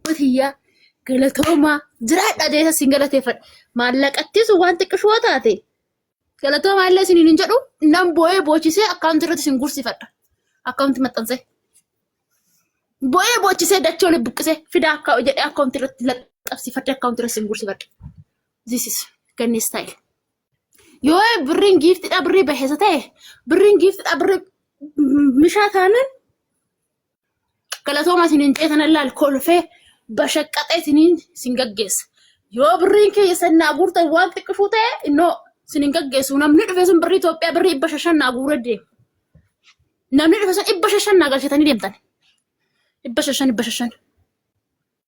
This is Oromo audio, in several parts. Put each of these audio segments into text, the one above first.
tiyyaa galatoomaa jiraadha jeesa sin galateeffadha maallaqattis waan xiqqishoo taate galatoomaa illee isiniin hin jedhu nan boo'ee boochisee akkaawuntii irratti sin gursifadha akkaawuntii maxxansee boo'ee boochisee dachoo oli buqqisee fidaa akka jedhee akkaawuntii irratti laxxabsifadhe akkaawuntii irratti sin gursifadha this is ganni style yoo birriin giiftidha birrii baheessa ta'e birriin giiftidha birrii mishaa taanan Galatooma isin hin jeetan allaal kolfee bashaqqaxee isiniin isin gaggeessa. Yoo birriin keessa naa guurtan waan xiqqishuu ta'e innoo isin hin gaggeessu. Namni dhufe sun birrii Itoophiyaa birrii dhibba shashan naa guuree deema. Namni dhufe sun dhibba shashan naa galchatanii deemtan. Dhibba shashan dhibba shashan.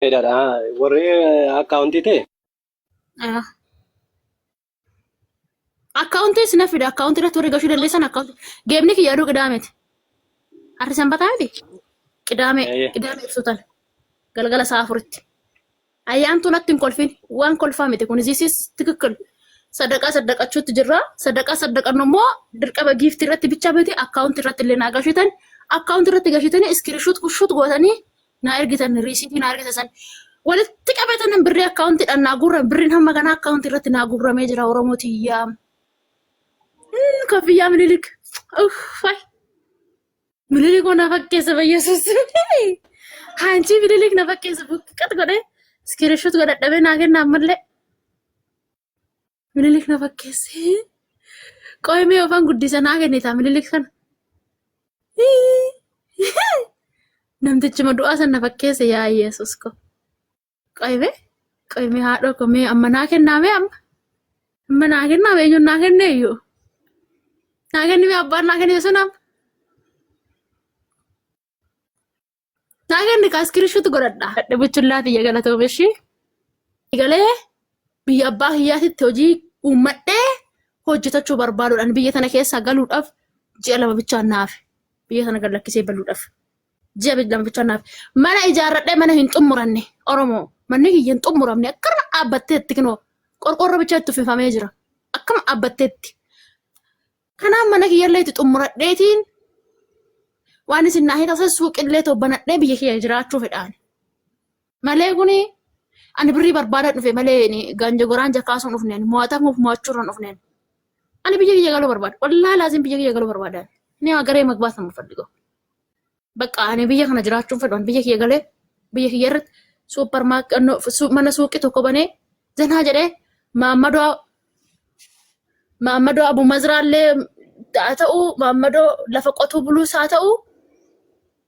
Fedhadha. Warri akkaawuntii ta'e Ah, Akkaawuntii sina fida akkaawuntii irratti warri gashuu dandeessan akkaawuntii. Geemni kiyya aduu qidaameeti. Harri sanbataa miti. Qidaamee eh, qidaamee ibsuutan galgala sa'a afuritti. Ayyaantuu natti hin kolfin waan kolfaa miti kun ziisis tikikkil Sadaqaa saddaqachuutti jirra. Sadaqaa saddaqannu immoo dirqama giiftii irratti bicha miti akkaawunti irratti illee naa gashitan. Akkaawunti irratti gashitanii iskiriishuut kushuut gootanii naa ergitan riisiitii naa ergita san. Walitti qabeetanan birrii akkaawuntiidhaan naa guurran birriin hamma kanaa akkaawunti irratti naa guurramee jira Oromoo tiyyaa. Mm, Koffiyyaa Minilik. Uff, fay. Mililik na fakkeessa bayyasuus. Haanchii mililik na fakkeessa buqqat godhee iskirishut godhadhabee naa kenna ammallee mililik na fakkeesse. Qoy mee ofan guddisa naa kennita mililik kana. Namtichuma du'aa san na fakkeesse yaa Yesuus ko. Qoybe qoyme haadhoo ko mee amma naa kennaa mee amma amma naa kennaa mee eenyuun naa kennee iyyuu naa kenni mee abbaan naa kennee sun amma naa kenni kaas kirishuutu godhadha. Hadha buchullaa tiyya galatoome ishii galee biyya abbaa kiyyaatitti hojii uummadhee hojjetachuu barbaaduudhaan biyya tana keessaa galuudhaaf ji'a lama bichaan naafe biyya tana gad lakkisee baluudhaaf. ji'a digdama bichaa naaf mana ijaarradhee mana hin xumuranne oromoo manni kiyya hin xumuramne akkana dhaabbatteetti kinoo qorqoorroo bichaa itti uffifamee jira akkana dhaabbatteetti kanaaf mana kiyyallee itti xumuradheetiin waan isin naa hitasan suuqillee too banadhee biyya kiyya jiraachuu fedhaan Malee kuni ani birrii barbaadan dhufe malee ani ganja goraan jakkaasuun dhufne ani mo'atamuuf mo'achuurran dhufne ani. Ani biyya kiyya galuu barbaada. Wallaahi laaziim biyya kiyya galuu barbaada. ani. Ni agaree magbaata mufadhigo. Bakka ani biyya kana jiraachuun fedhu ani biyya kiyya galee biyya kiyya irratti suupper mana suuqii tokko banee zanaa jedhee maammadoo maammadoo abu mazraallee haa ta'u maammadoo lafa qotuu buluus haa ta'u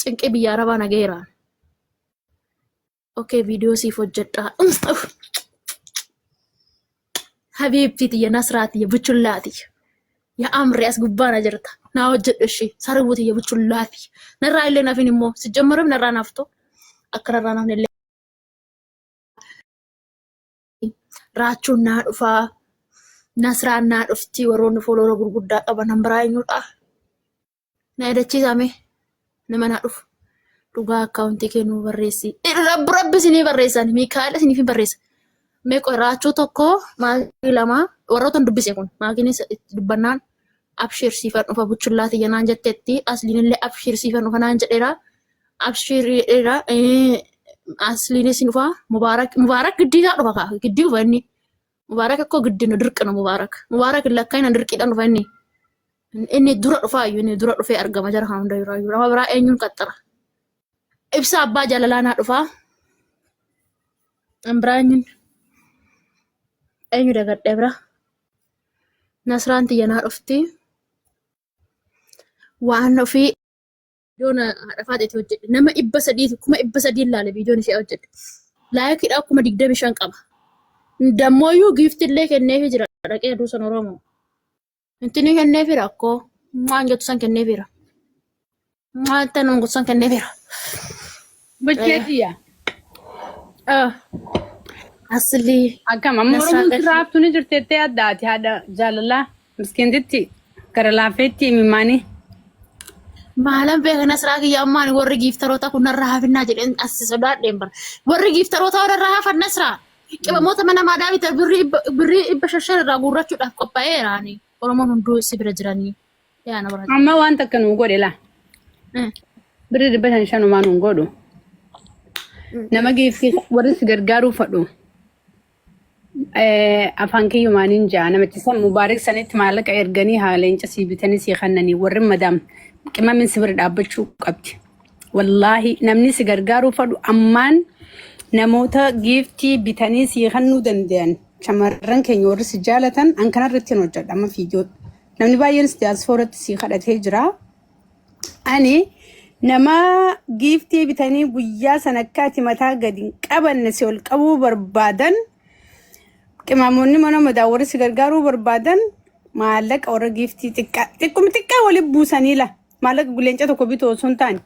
cinqii biyya arabaa na gaheeraan. Okee viidiyoo siif hojjedhaa. Habiibtii tiyya nasraa tiyya buchullaa tiyya. Yaa amri as gubbaa na jirta. Naa hojjedhu ishii sararuu tiyya buchullaa tiyya. Narraa illee nafin immoo si jammarame narraa naaftu akka narraa nafne illee. raachuun naa dhufaa nasraan naa dhuftii warroonni fooloora gurguddaa qaban nan biraa eenyudha na yaadachiisame nama naa dhufu dhugaa akkaawuntii kee nuu barreessi rabbi rabbi isinii barreessan miikaa'el isiniif barreessa meeqa raachuu tokko maakii lama warroota hin dubbise kun maakiinis dubbannaan abshiir siifan dhufa buchullaa tiyya naan jetteetti asliinillee abshiir siifan dhufa naan jedheera abshiir jedheera asliinis hin dhufa mubaarak mubaarak giddii isaa dhufa kaa giddii dhufa inni mubaarak akkoo giddii nu dirqina mubaarak mubaarak lakkaina dirqiidhaan dhufa inni inni dura dhufaa iyyuu inni dura dhufee argama jara kan hunda irraa iyyuu nama biraa eenyuun qaxxara ibsa abbaa jaalalaa naa dhufaa biraa eenyuun eenyu dagadhee biraa Nasraan tiyya naa dhufti. Waan ofii viidiyoon haadha faaxeeti hojjedhe. Nama dhibba sadii kuma dhibba sadii laale viidiyoon ishee hojjedhe. Laayikiidhaa kuma digdami shan qaba. Dammooyyuu giifti illee kenneefi jira dhaqee aduu san Oromoo. Intinii kenneefi rakkoo waan jettu san kenneefiira. Maata nun gussan kennee bira. Bachee kiyya. Asli. Akkam amma Nasaa Oromoon gadi. sirraa haftuu ni jirti jettee adda ati haadha jaalalaa miskiintitti gara laafeetti imimmaanii. Maalan beekna siraa kiyya ammaan warri giiftaroota kun narraa hafinnaa jedheen as sodaadheen bara. Warri giiftaroota warra hafanna siraa. Qibamoota mana maadaa bita birrii dhibba- birrii dhibba shashan irraa guurrachuudhaaf qophaa'eera ani. Oromoon hunduu si bira jiranii. Yaa na barate. Amma waan takka nuu godhe laa. Mm. Birri dhibba shan shanumaa nuun godhu. Mm. Nama geessi warri si gargaaruu fadhu. Eh, Afaan kiyyumaan hin jaa namichi san mubaarik sanitti maallaqa erganii haa leenca sii bitanii sii kannanii warri madaam qimamin si bira dhaabbachuu qabdi. Wallaahi namni si gargaaruu fadhu ammaan namoota giiftii bitanii sii kannuu danda'an shamarran keenya warri si jaalatan an kanarratti hin hojjedha amma fiidiyoo Namni baay'eenis diyaaspooratti sii kadhatee jira. Ani nama giiftii bitanii guyyaa sana akka ati mataa gadi hin qabanne si ol qabuu barbaadan qimaamoonni mana madaa warri si gargaaruu barbaadan maallaqa warra giiftii xiqqaa xiqquma xiqqaa wali buusanii la maallaqa guleenca tokko bituu osoo hin taane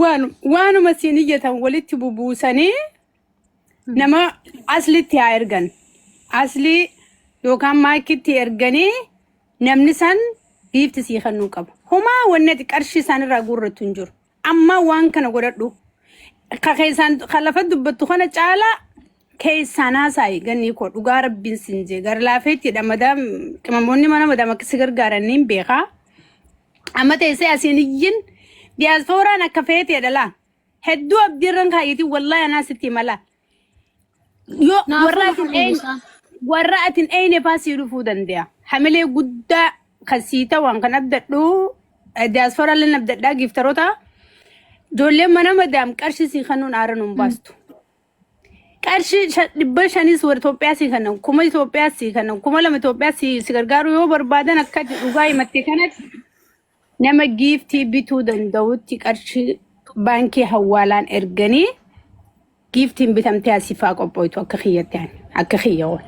waan waanuma siin iyyatan walitti bubuusanii nama aslitti haa ergan asli yookaan maakitti erganii namni san giifti sii kennuu qaba homaa wanni ati qarshii isaan irraa guurrattu hin jiru amma waan kana godhadhu ka keessaan ka lafa dubbattu kana caalaa keessaan haasaa'i gannii koo dhugaa rabbiin siin jee gara laafeettiidha madaam qimamoonni mana madaam akka si gargaaran niin beekaa amma teessee asiin iyyin diyaaspooraan akka feeteedha laa Hedduu abdiirran kaayyetiin wallaahi anaa sitti himala. Yoo Naafuu warra atin maal eeyne isaa? warra atin eeyne faa sii dhufuu danda'a. Hamilee guddaa kan sii ta'an kan abdadhu diyaasforaa illee abdadhaa giiftaroota ijoolleen mana madaam qarshii sii kennuun aara nuun baastu. Qarshii shan- dhibba shaniis warra Itoophiyaa sii kennan kuma Itoophiyaa sii kennan kuma lama Itoophiyaa sii si gargaaruu yoo barbaadan akka dhugaa himatte kanatti Nama giiftii bituu danda'utti qarshii baankii hawwaalaan erganii giiftiin bitamtee asifaa qophoitu akka kiyyatti ani akka kiyya oolu.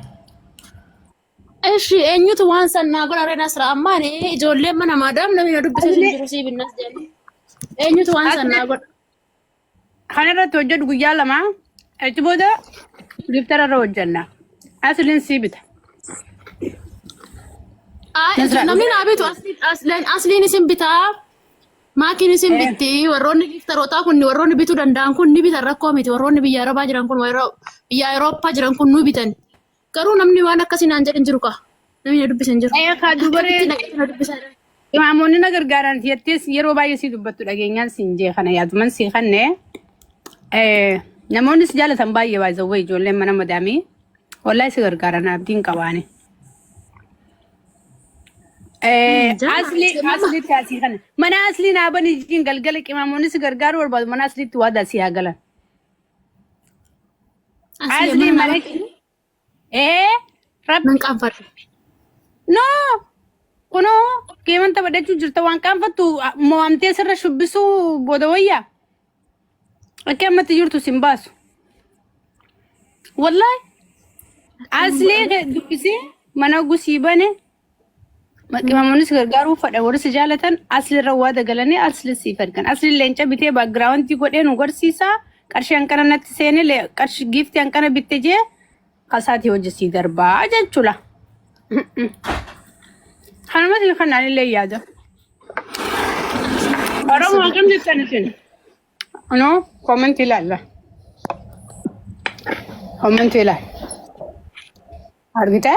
Eshi eenyutu waan san naa godha ree nasra ammaan ijoolleen mana maadaam namni na dubbisee sun jiru sii binnas jedhanii eenyutu waan san naa godha. Kana irratti hojjedhu guyyaa lama achi booda giftara irra hojjenna. Asliin sii bita. Ay, Nasra, namni naa bitu asli- asli- asliin isin bitaa maakiin isin bitti warroonni giftarootaa kun warroonni bituu danda'an kun ni bitan rakkoo miti warroonni biyya arabaa jiran kun warra biyya awurooppaa jiran kun nu bitan Garuu namni waan akkasii naan jedhin jiru kaa. Namni na dubbisan jiru. Ee, kaa dubaree- Akkamitti naqeetu na dubbisaa jira. Imaamonni na gargaaran jettees yeroo baay'ee si dubbattu dhageenyaan siin jee kana yaaduman sii kanne eh, namoonni si jaalatan baay'ee baay'ee ijoolleen mana madaamii wallahi si gargaaran abdiin qabaani. Eh, Jaa- Asli jaa- asliitti asii kana mana aslii naa bani jiin galgala qimaamoonni si gargaaruu barbaadu mana asliitti waadaa si haa galan. Asli mana ee rabbi Nan qaanfadhu. no kunoo geeman taphadhachuu jirta waan qaanfattu mo'amtee sirra shubbisuu booda wayyaa akka ammatti jirtu sin baasu wallahi asli dubbisee mana gusii bane Maqimamoonnis gargaaruu fadha warri si jaalatan asli irra waa dagalanii asli siif ergan. Asli leenca bitee baagiraawundii godhee nu garsiisa. Qarshii hanqana natti seene le- qarshii giiftii hanqana bitte jee kasaati hojii sii darbaa jechuudha. Kanuma isin kanaan illee yaada. Oromoo akkam jettan isin? Anoo koomentii ilaalla. Koomentii ilaalla. Argitee?